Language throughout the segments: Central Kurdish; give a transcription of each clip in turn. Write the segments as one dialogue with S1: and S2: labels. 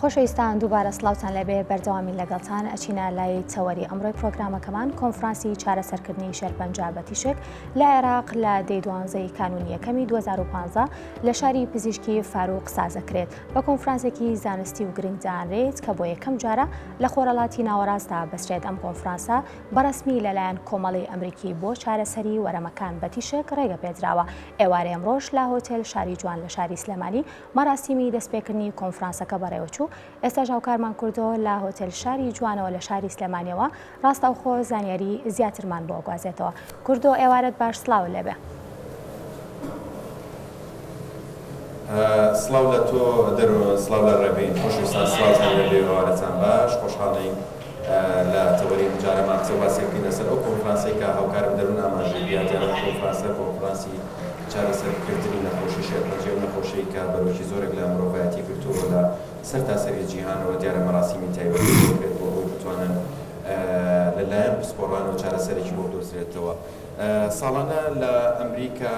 S1: خۆشەویستان دووبارە سلااوان لەبێ بەردەوامی لەگەڵتان ئەچینە لای تەوەری ئەمڕۆی پرۆگرامەکەمان کۆنفرانسی چارەسەرکردنی شەرپەنج بە تیشک لە عێراق لە دەی دوانزەی کانونیەکەمی 2015 لە شاری پزیشکی فاروق سازەکرێت بە کۆنفرانسێکی زانستی و گرنگدانرێت کە بۆ یەکەم جارە لە خۆرەڵاتی ناوەڕاستدا بەسرێت ئەم کۆنفرانسە بەڕسمی لەلایەن کۆمەڵی ئەمریکی بۆ چارەسەری وەرەمەکان بە تیشک ڕێگە پێدراوە ئێوارێ ئەمڕۆژ لە هۆتێل شاری جوان لە شاری سلێمانی مەراسیمی دەستپێکردنی کۆنفرانسەکە بەڕێوەچوو، ئێستاش هاوکارمان کوردۆ لە هۆتێل شاری جوانەوە لە شاری سلێمانیەوە ڕاستەوخۆ زانیاری زیاترمان بۆ ئەگوازێتەوە. کوردۆ ئێوارەت باش سڵاو لێبێ. سڵاو لە تۆ دەرۆ سڵاو لە ڕێبین خۆشەویستان سڵاوتان لێبێ ئێوارەتان
S2: باش خۆشحاڵین. لە تەوەری ئەم جارە مام قسەوباسێک بکەین لەسەر ئەو کۆنفرانسەی کە هاوکارم دەروون ئاماژەی پێیا دیارە ئەم کۆنفرانسە کۆنفرانسی چارەسەر کردنی نەخۆشی شێرپەنجەیە ئەو نەخۆشەی کە بەرۆکی زۆرێک لە مرۆڤایەتی گرتووە لە سەرتاسەری جیهانەوە دیارە مەراسیمی تایبەتی بۆ بکرێت بۆ ئەوەی بتوانن لە لایەن پسپۆڕانەوە چارەسەرێکی بۆ بدۆزرێتەوە ساڵانە لە ئەمریکا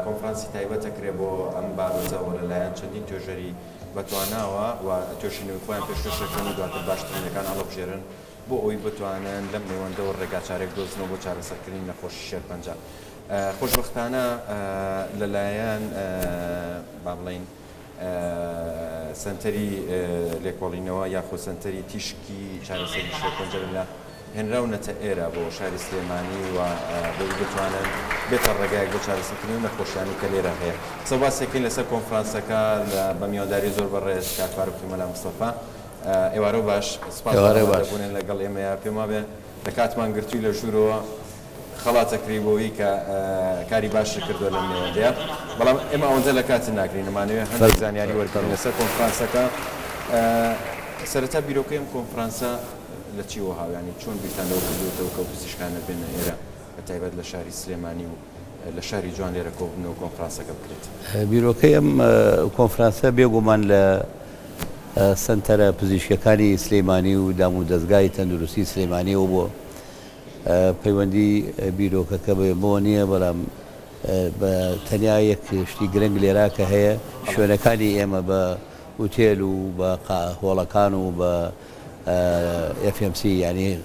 S2: کۆنفرانسی تایبەت ئەکرێت بۆ ئەم بابەتەوە لە لایەن چەندین توێژەری بەتواناوە و توێژینەوەی خۆیان پێشکەش دەکەن و دواتر باشترینەکان هەڵەبژێرن بۆ ئەوەی بتوانن لەم نێوەندەوە ڕێگاچارەی بدۆزنەوە بۆ چارەسەرکردنی نەخۆشی شێرپەنجە خۆشبەختانە لەلایەن با بڵێین سەنتەری لێکۆڵینەوە یاخۆ سەنتەری تیشکی چارەسەری شێرپەنجە لە هێنراونەتە ئێرە بۆ شاری سلێمانی و بەوی بتوانن بێتە ڕێگایەک بۆ چارەسەرکردنی ئەو نەخۆشیانەی کە لێرە هەیە. قسە و باسی دەکەین لەسەر کۆنفرانسەکە لە بە میوانداری زۆر بەڕێز کاک فاروقی مەلا مستەفا. ئێوارە و باش. سپاس بۆ ئامادەبوونێن لەگەڵ ئێمەیە. پێم وابێ لە کاتمان گرتووی لە ژوورەوە خەڵات ئەکری بۆوی کە کاری باشت کردووە لەم نێوەندەیە. بەڵام ئێمە ئەوەندە لە کاتت ناگرین. ئەمانەوێ هەندێک زانیاری وەربگرین لەسەر کۆنفرانسەکە. سەرەتا بیرۆکەی ئەم کۆنفرانسە. لە چی وەها یانی چۆن بیرتان لەوە کردووەتەوە کە ئەو پزیشکانە بێنە ئێرە بە تایبەت لە شاری سلێمانی و لە شاری جوان لێرە کۆببنەوە کۆنفرانسەکە بکرێت؟ بیرۆکەی ئەم
S3: کۆنفرانسە بێگومان لە سەنتەرە پزیشکیەکانی سلێمانی و دام و دەزگای تەندروستی سلێمانیەوە بووە پەیوەندی بیرۆکەکە بێ بۆ نییە بەڵام بە تەنیا یەک شتی گرنگ لێرا کە هەیە شوێنەکانی ئێمە بە ئوتێل و بە هۆڵەکان و بە ئێف ئێم سی یانی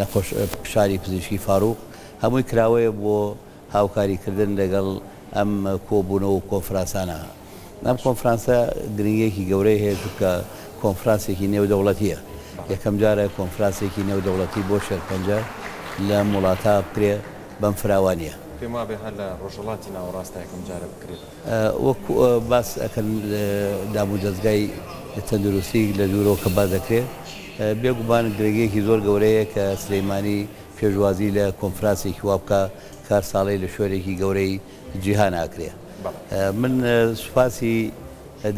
S3: نەخۆش فشاری پزیشکی فاروق هەمووی کراوەیە بۆ هاوکاری کردن لەگەڵ ئەم کۆبوونەوە و کۆنفرانسانە ئەم کۆنفرانسە گرنگیەکی گەورەی هەیە چونکە کۆنفرانسێکی نێودەوڵەتیە یەکەم جارە کۆنفرانسێکی نێودەوڵەتی بۆ شێرپەنجە لە وڵاتە بکرێ بەم فراوانیە پێم وابێ هەر لە
S2: ڕۆژهەڵاتی ناوەڕاستە یەکەم جارە بکرێت. وەک
S3: باس ئەکەن دامو دەزگای تەندروستی لە دوورەوە کە باس دەکرێ بێ گومان گرنگیەکی زۆر گەورەیە کە سلیمانی پێشوازی لە کۆنفراسێکی وا بکا کە هەر ساڵەی لە شوێنێکی گەورەی جیهان ئاکرێ من سوپاسی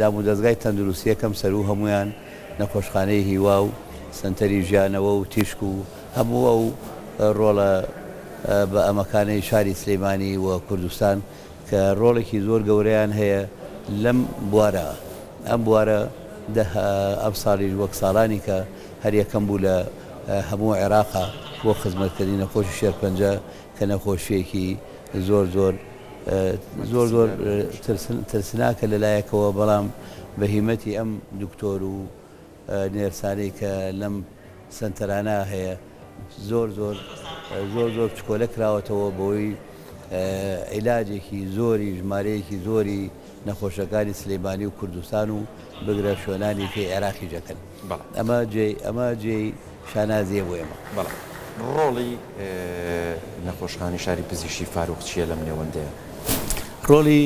S3: دامو دەزگای تەندروستی ئەکەم سەرو هەموویان نەخۆشخانەی هیوا و سەنتەری ژیانەوە و تیشک و هەموو ئەو ڕۆڵە بە ئەمەکانەی شاری سلیمانی و کوردستان کە ڕۆڵێکی زۆر گەورەیان هەیە لەم بوارە، ئەم بوارە دە ئەمساڵیش وەک ساڵانی کە هەر یەکەم بوو لە هەموو عێراق بۆ خزمەتکردنی نەخۆشی شێرپەنجە کە نەخۆشییەکی زۆر زۆر زۆر زۆر ترسناکە لەلایەکەوە بەڵام بە هیمەتی ئەم دکتۆر و نێرسانەی کە لەم سەنتەرانە هەیە زۆر زۆر زۆر زۆر پشکۆلە کراوەتەوە بەوەی عیلاجێکی زۆری ژمارەیەکی زۆری نەخۆشەکانی سلێمانی و کوردستان و بگرە شوێنانی کەی عێراقی جەکەن ئەمە جێی ئەمە جێی شانازیە بۆ ئێمە بەڵێ ڕۆڵی
S2: نەخۆشخانی شاری پزیشی فاروق چییە لەم نێوەندەیە؟ ڕۆڵی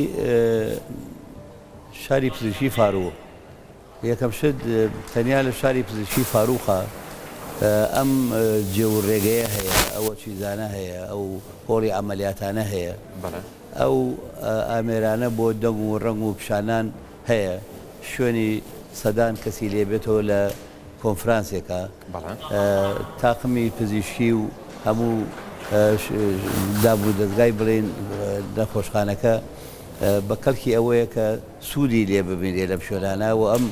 S3: شاری پزیشی فاروق یەکەم شت تەنیا لە شاری پزیشکی فاروقا ئەم جێ و رێگەیە هەیە، ئەو چیزانە هەیە، ئەو هۆڵی عەمەلیاتانە هەیە، ئەو ئامێرانە بۆ دەنگ و رەنگ و پیشانان هەیە، شوێنی سەدان کەسی لێ بێتەوە لە کۆنفرانسێکا، تاقمی پزیشکی و هەموو داب و دەزگای بڵێین نەخۆشخانەکە. بە کەڵکی ئەوەیە کە سوودی لێ ببینرێ لەم شوێنانە و ئەم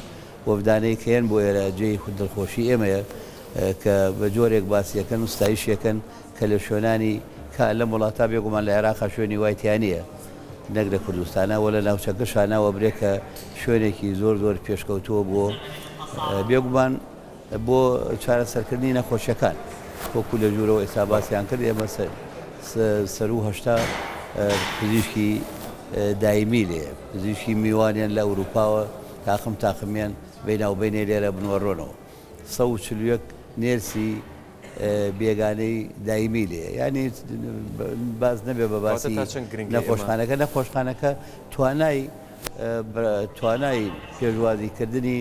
S3: وەفدانەی کە یەن بۆ ئێرە جێی دڵخۆشی ئێمەیە کە بە جۆرێک باسی ئەکەن و ستایشی ئەکەن کە لە شوێنانی کا لەم وڵاتە بێگومان لە عێراقا شوێنی وای تیا نییە نەک لە کوردستانا و لە ناوچەکەشا ناوەبرێ کە شوێنێکی زۆر زۆر پێشکەوتووە بۆ بێگومان بۆ چارەسەرکردنی نەخۆشیەکان وەکو لە ژورەوە ئێستا باسیان کرد ئێمە سەرو هەشتا پزیشکی دایمی لێ پزیشکی میوانیان لە ئەوروپاوە تاقم تاقمیان بیناوبینێ لێرە بنوەڕۆنەوە سە و چلوەک نێرسی بێگانەی دایمی لێ ینی باز نەبێ بە باسی نەخۆشخانەکە نەخۆشخانەکە توانای توانای پێشوازیکردنی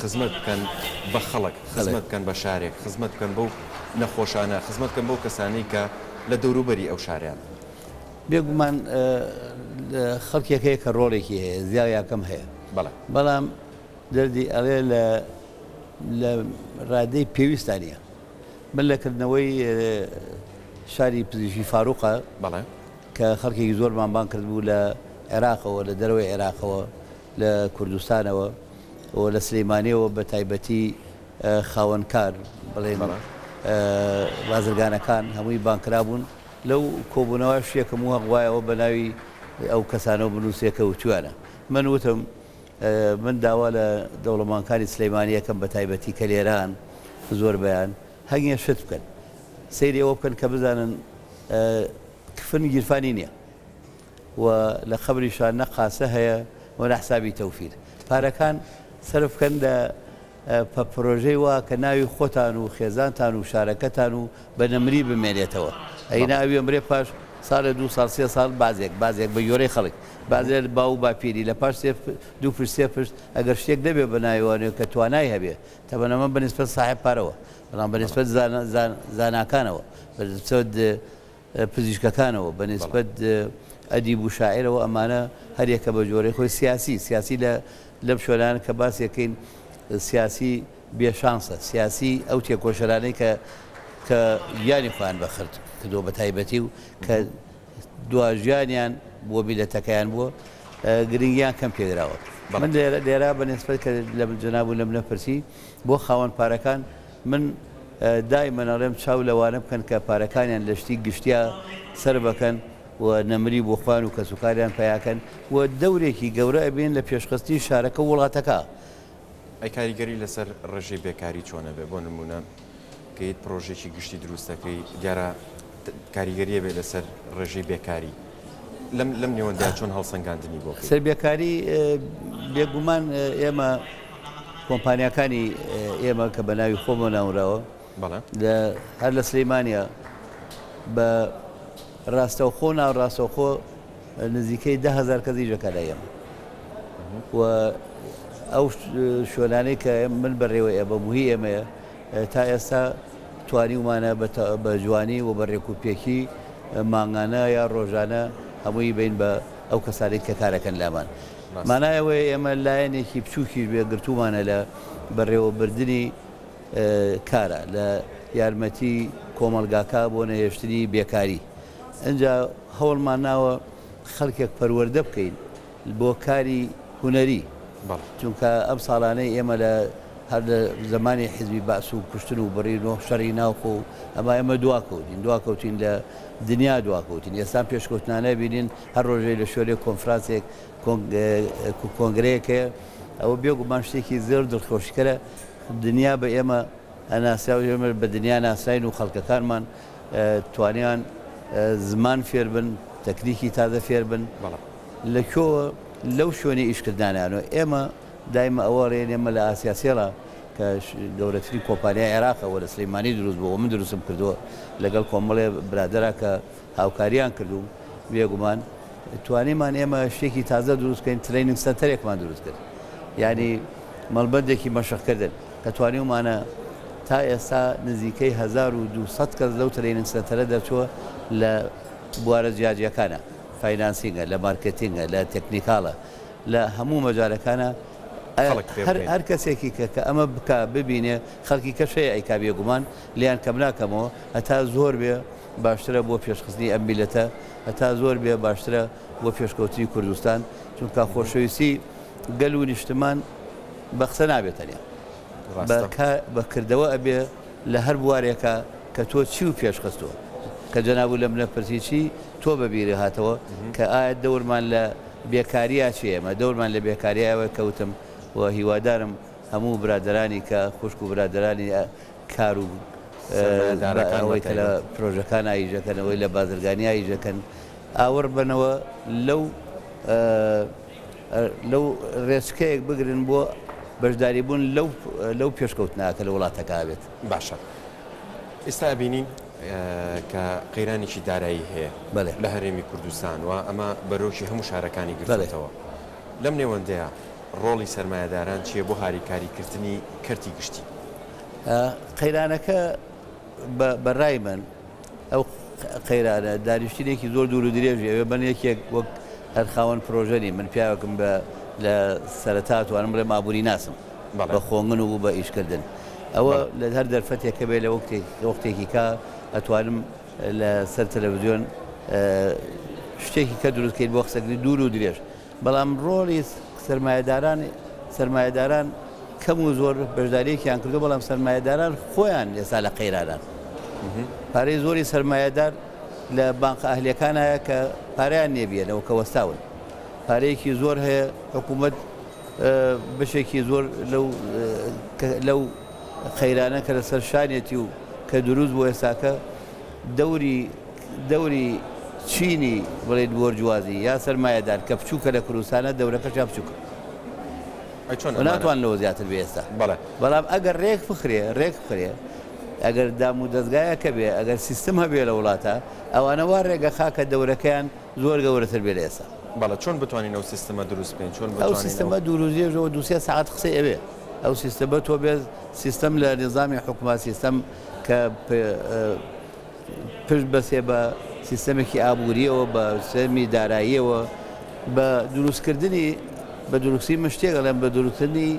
S4: خزمەت بکەن بە خەڵک، خزمەت بکەن بە شارێک، خزمەت بکەن بەو نەخۆشانە، خزمەت بکەن بەو کەسانەی کە لە دەوروبەری ئەو شاریان. بێگومان
S3: خەڵکێک هەیە کە ڕۆڵێکی هەیە زیا یا کەم هەیە، بەڵام دەردی ئەڵێ لە ڕادەی پێویستدا نییە. من لە کردنەوەی شاری پزیشکی فاروقە کە خەڵکێکی زۆرمان بانگ کردبوو لە عێراقەوە لە دەرەوەی عێراقەوە، لە کوردستانەوە و لە سلیمانیەوە بە تایبەتی خاوەن کار بڵێن بازرگانەکان هەمووی بانکرابوون لەو کۆبوونەوە شتێکم و هەقوایەوە بە ناوی ئەو کەسانەوە بنووسێکە وتویانە من وتم من داوا لە دەوڵەمانکانی سلیمانیەکەم بە تایبەتی کە لێران زۆر بەیان هەنگێ شت بکەن سەیری ئەوە بکەن کە بزانن کفن گیرفانی نییە و لە قەبریشا نە قاسە هەیە و نە حسابی تەوفیر پارەکان سەرف بکەن لە پە پرۆژەی وا کە ناوی خۆتان و خێزانتان و شارەکەتان و بە نەمری بمێنێتەوە ئەینا ئەوی ئەمرێ پاش سالێ دوو ساڵ سێ ساڵ بازێک بازێک بە گوێرەی خەڵک بازێ باو و باپیری لە پاش سێ دوو پشت سێ پشت ئەگەر شتێک نەبێ بە ناوی وانێ کە توانای هەبێ تەبەنەمە بە نیسبەت ساحێب پارەوە بەڵام بە نیسبەت زانا زان زاناکانەوە بە نیسبەت پزیشکەکانەوە بە نیسبەت ئەدیب و شاعیرەوە ئەمانە هەر یەکە بە جۆرەی خۆی سیاسی سیاسی لە لەم شوێنانە کە باسی یەکەین سیاسی بێ شانسە سیاسی ئەو تێکۆشەرانەی کە کە گیانی خۆیان بە خرت کردو بە تایبەتی و کە دواژیانیان بۆ میلەتەکەیان بووە گرنگیان کەم پێدراوە من لێرا بە نسبەت کە لە جەناب و لەم نەپرسی بۆ خاوەن پارەکان من دایمەن ئەڵێم چاو لەوانە بکەن کە پارەکانیان لە شتی گشتیا سەر بەکەن و نەمری بۆ خوان و کەسوکاریان پەیاکەن و دەورێکی گەورە ئەبێن لە پێشخستنی شارەکە و وڵاتەکە. ئەی
S4: کاریگەری لەسەر ڕێژەی بێکاری چۆن ئەبێ؟ بۆ نموونە کە هیچ پڕۆژەیەکی گشتی دروست ئەکەی دیارە کاریگەری ئەبێ لەسەر ڕێژەی بێکاری. لەم نێوەندە چۆن هەڵسەنگاندنی بۆ بکەین؟ سەربیاکاری،
S3: بێگومان ئێمە کۆمپانیاکانی ئێمە کە بە ناوی خۆمەوە ناونراوە، هەر لە سلێمانییە بە ڕاستەوخۆ و ناڕاستەوخۆ نزیکەی دە هەزار کەس ئیش دەکات لای ئێمە و ئەو شوێنانەی کە من بەڕێوەی ئەبەم و هی ئێمەیە، تا ئێستا توانیومانە بە جوانی و بە رێکوپێکی مانگانە یا رۆژانە هەمووی بین بە ئەو کەسانەی کە کارەکەن لامان مانایەوەی ئێمە لایەنێکی بچووکیش بێ گرتومانە لە بەڕێوەبردننی کارە لە یارمەتی کۆمەلگاکە بۆ نەهێشتنی بێکاری ئەجا هەوڵمان ناوە خەڵکێک پەروەەردە بکەین بۆ کاری هونەری چونکە ئەم ساڵانەی ئێمە لە هەر لە زمانی حزبی بەعس و کوشتن و بڕی نۆ شەڕی ناوخۆ و ئەما ئێمە دواکەوتین دواکەوتین لە دنیا دواکەوتین ئێستا پێشکەوتنانە بینین هەر ڕۆژێ لە شوێنێک کۆنفرانسێک کۆنگرەیەکێ ئەوە بێگومان شتێکی زۆر دڵخۆشکەرە دنیا بە ئێمە ئەناسرا و ئێمە بە دنیا ناسراین و خەڵکەکانمان توانیان زمان فێربن تەکنیکی تازە فێربن بەڵام لە کوێوە لەو شوێنە ئیش کردنانەیانەوە ئێمە دایمە ئەوە ڕێ نێ مە لە ئاسیا سێڵا کە گەورەترین کۆمپانیای عێراقە وە لە سلیمانی دروست بووە من دروستم کردووە لەگەڵ کۆمەڵێ برادەرا کە هاوکاریان کردووم بێگومان توانیمان ئێمە شتێکی تازە دروست کەین تریننگ سەنتەرێکمان دروست کرد یعنی مەڵبەندێکی مەشقکردن کە توانیومانە تا ئێستا نزیکەی 1200 کەس لەو تریننگ سەنتەرە دەرچووە لە بوارە جیاجیەکانە فاینانسینگە، لە مارکێتینگە، لە تەکنیکاڵە، لە هەموو مەجالەکانا خەڵک فێر بکەین. هەر کەسێکی کە کە ئەمە بکا ببینێ خەڵکی کەش هەیە ئەیکا بێگومان لێیان کەم ناکەمەوە هەتا زۆر بێ باشترە بۆ پێشخستنی ئەم میلەتە هەتا زۆر بێ باشترە بۆ پێشکەوتنی کوردستان چونکا خۆشەویستی گەل و نیشتمان بە قسە نابێ تەنیا ڕاستە. بە کردەوە ئەبێ. لە هەر بوارێکا کە تۆ چیو پێش خستووە؟ کە جەنابو لە منە پرسی چی تۆ بە بیرێ هاتەوە کە ئایا دەورمان لە بێکاریا چیە؟ ئێمە دەورمان لە بێکاریا ئەوە کە وتم و هیوادارم هەموو برادەرانی کە خوشکو برادەرانی کارو سەرمایەدارەکان بە تایبەت ئەوەی کە لە پرۆژەکان ئاییژەکەن ئەوەی لە بازرگانی ئاییژەکەن ئاوڕ بنەوە لەو لەو رێچکەیەک بگرن بۆ بەشداریبوون لەو پێشکەوتنە کە لە وڵاتەکە ئەبێت. باشە
S4: ئیستا ئەبینین کە قەیرانێکی دارایی هەیە لە هەرێمی کوردستان و ئەمە بەرۆکی هەموو شارەکانی گرتۆتەوە لەم نێوەندەیا رۆڵی سەرمایەداران چیە بۆ هاریکاری کردنی کەرتی گشتی؟
S3: قەیرانەکە بە رای من، ئەو قەیرانە دانیشتنێکی زۆر دوور و درێژی ئەوێ من یەکێک وەک هەر خاوەن پرۆژە نیم من پیاوێکم بە لە سەرەتا توانم بڵێم ئابووری ناسم بەڵێ. بە خۆنگن و بوو بە ئیشکردن ئەوە بەڵێ. لە هەر دەرفەتێک کە بێ لە وەکتێک لە وەختێکی کا ئەتوانم لە سەر تەلەڤزیۆن شتێکی کە دروست کەین بۆ قسەکردنی دوور و درێژ. بەڵام ڕۆڵی سەرمایەداران سەرمایەداران کەم و زۆر بەشداریەکیان کردو بەڵام سەرمایەداران خۆیان ئێستا لە قەیرانان پارەی زۆری سەرمایەدار لە بانقە ئەهلەکان هەیە کە پاریان نێبیێنەوە کە وەستاون پارەیەکی زۆر هەیە حکوومەت بەشێکی زۆر لەو قەیرانە کە لەسەر شانێتی و کە دروست بۆ ئێستاکە دەوری دەوری چینی بڵێیت بۆرجوازی یا سەرمایەدار کە بچووکە لە کوردستانە دەورەکەشیان بچووکە ئەی چۆن و ئەمانە ناتوان لەوە زیاتر بێ ئێستا بەڵێ بەڵام ئەگەر رێک بخرێ رێک بخرێ ئەگەر دام و دەزگایەکە بێ ئەگەر سیستم هەبێ لە وڵاتە ئەوانە وا رێگە خا کە دەورەکەیان زۆر گەورەتر بێ لە ئێستا. بەڵێ چۆن بتوانین ئەو
S4: سیستمە دروست بکەین چۆن ئەو بتوانین ئەو سیستمە دوور و
S3: درێژە و دوو سێ سەعات قسەی ئەوێ ئەو سیستمە تۆ بێ سیستم لە نیزامی حکومە سیستم کە پ ئە پشت بەستێ بە سیستەمێکی ئابوورییەوە، بە سیستەمی داراییەوە، بە دروستکردنی، بە دروستی من شتێک ئەڵێم، بە دروستکردنی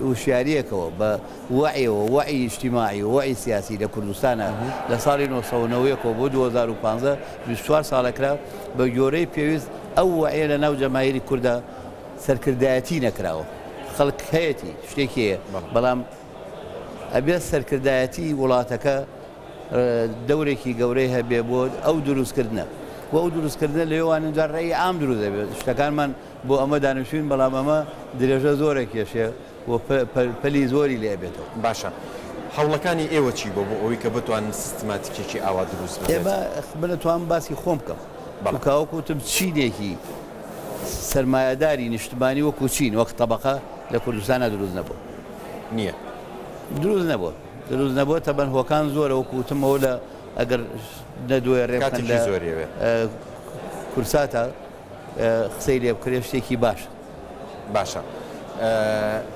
S3: هوشیارییەکەوە، بە وەعیەوە، وەعی ئیجتیماعی و وەعی سیاسی لە کوردستانا لە ساڵی نۆ سەد و نەوەد و یەک ەوە بۆ دوو هەزار و پازدە، بیست و چوار ساڵە کرا، بە گۆرەی پێویست ئەو وەعیە لە ناو جەماهیری کوردا سەرکردایەتی نەکراوە. خەڵک هەیەتی، شتێکی هەیە، بەڵام ئەبێت سەرکردایەتی وڵاتەکە دەورێکی گەورەی هەبێ بۆ ئەو دروستکردنە بۆ ئەو دروستکردنە لەێواندا ڕێی ئام دروست دەبێت شتەکانمان بۆ ئەمە دانیشتوین بەڵام ئەمە درێژە زۆرە کێشێ و پەلی زۆری لێ بێتەوە باشە
S4: هەوڵەکانی ئێوە چی بۆ بۆ ئەوەی کە بتوان سیستماتیکێکی ئاوا دروست بێت بنەتوان
S3: باسی خۆم بکەم بەڵکوتم چینێکی سرمایهداری نیشتمانی وەکو چین وەک طبقە لە کوردستانە دروست نەبوو نییە
S4: دروست
S3: نەبووە. دروست نەبوە تەبەن هۆکان زۆرە وەکو وتم ئەوە لە ئەگەر نەدوێ رێ بکەن لە کورساتا قسەی لێ بکرێ شتێکی باشە باشە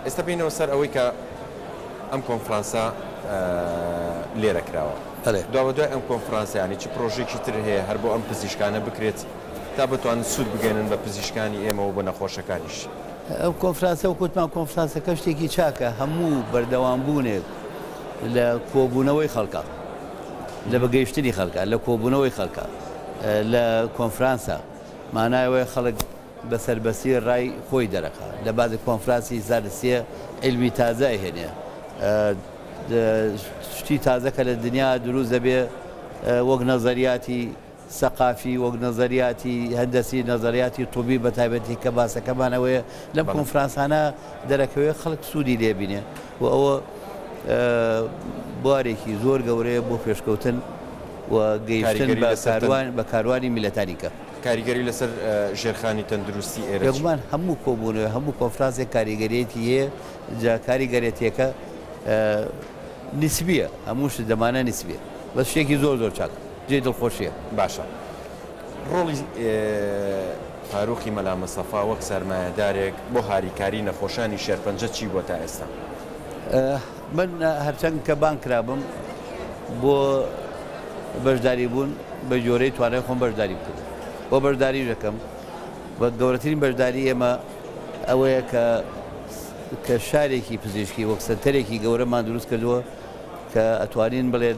S4: ئێستا بینەوە سەر ئەوەی کە ئەم کۆنفرانسە لێرە کراوە داوە دوای ئەم کۆنفرانسیانی چ پرۆژێکی تر هەیە هەر بۆ ئەم پزیشکانە بکرێت تا بتوان سوود بگەێنن بە پزیشکانی ئێمەەوە بە نەخۆشەکانیش. ئەو کۆنفرانسە
S3: وەک وتمان کۆنفرانسەکە شتێکی چاکە هەموو بەردەوامبوونێک لە کۆبوونەوەی خەڵکە لە بەگەیشتنی خەڵکە لە کۆبوونەوەی خەڵکە لە کۆنفرانسە مانایەوەی خەڵک بەسەربەسی ڕای خۆی دەرەکە لە بازی کۆنفرانسی زانستیە علمی تازای هێنێ شتی تازەکە لە دنیا دروست دەبێ وەک نەزەریاتی سەقافی، وەک نەزەریاتی هەندەسی، نەزەریاتی طوبی بە تایبەتی کە باسەکەمان ئەوەیە لەم بەڵێ. کۆنفرانسانە دەرەکەوێ خەڵک سوودی لێ بینێ و ئەوە بوارێکی زۆر گەورەیە بۆ پێشکەوتن و گەیشتن کاریگەری بە لەسەر تەن کاروان بە کاروانی میللەتانی کە. کاریگەری لەسەر
S4: ژێرخانی تەندروستی ئێرە چی؟ بێگومان هەموو کۆبوونەوە،
S3: هەموو کۆنفرانسێک کاریگەریەکی هەیە، جا کاریگەرێتیەکە نیسبیە، هەموو شت لەمانە نیسبیە، بەس شتێکی زۆر زۆر چاکە. جێی دڵخۆشیە باشە
S4: ڕۆڵی فاروقی مەلا مستەفا وەک سەرمایەدارێک بۆ هاریکاری نەخۆشانی شێرپەنجە چی بووە تا ئێستا؟
S3: من هەرچەند کە بانگ کرابم بۆ بەشداری بوون بە جۆرەی توانای خۆم بەشداری بکردم بۆ بەشداری دەکەم و گەورەترین بەشداری ئێمە ئەوەیە کە کە شارێکی پزیشکی وەک سەنتەرێکی گەورەمان دروست کردووە کە ئەتوانین بڵێن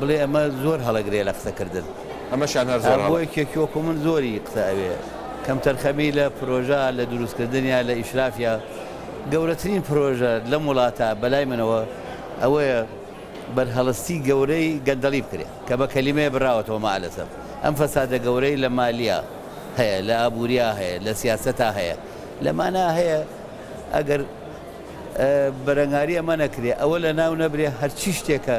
S3: بڵێ ئەمە زۆر هەڵەگرێ لە قسە کردن. ئەمەشیان هەر زۆر
S4: هەڵە. بۆ یەکێکی وەکو من
S3: زۆری قسە ئەوێ کەمتەرخەمی لە پرۆژە لە دروست کردنیا لە ئیشرافیا گەورەترین پرۆژە لەم وڵاتە بەلای منەوە ئەوەیە بەرهەڵستی گەورەی گەندەڵی بکرێ کە بە کەلیمەیە براوەتەوە مەعەلەسەف ئەم فەسادە گەورەی لە مالیا هەیە لە ئابوریا هەیە لە سیاسەتا هەیە لەمانا هەیە ئەگەر بەرەنگاری ئەمە نەکرێ ئەوە لە ناو نەبرێ هەرچی شتێکە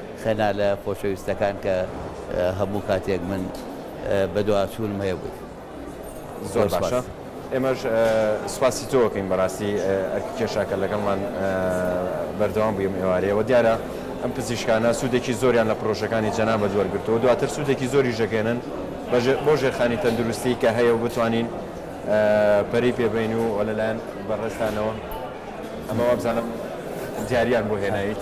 S3: خەنالە خۆشەویستەکان کە هەموو کاتێک من بەدواچوونم هەیە بۆی زۆر زۆر
S4: باشە سپاس. ئێمەش سوپاسی تۆ ئەکەین بەراستی ئەرکی کێشاکە لەگەڵمان بەردەوام بووی ئەم ئێوارەیە وە دیارە ئەم پزیشکانە سودێکی زۆریان لە پرۆژەکانی جەنابت وەرگرتووە و دواتر سودێکی زۆریش دەگەیەنن بۆ ژێرخانی تەندروستی کە هەیە و بتوانین پەرەی پێ بەین و لەلایەن بەڕێزتانەوە ئەمە وابزانم دیاریان بۆ هێنایت.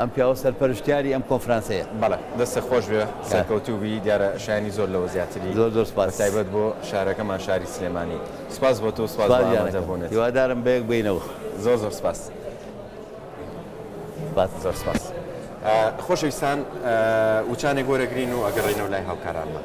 S3: ئەم پیاوە سەرپەرشتیاری ئەم کۆنفرانسەیە. بەڵێ دەستت خۆش
S4: بێ سەرکەوتوو بی دیارە شایەنی زۆر لەوە زیاتری زۆر زۆر سوپاس بەتایبەت
S3: بۆ شارەکەمان
S4: شاری سلێمانی سوپاس بۆ تۆ و سوپاس بۆ سوپاس گیانەکەم ئامادەبوونت. هیوادارم بەیەک بینەوە.
S3: زۆر زۆر سوپاس.
S4: سوپاس. زۆر سوپاس خۆشەویستان وچانێک وەرەگرین و ئەگەڕێینەوە لای هاوکارانمان.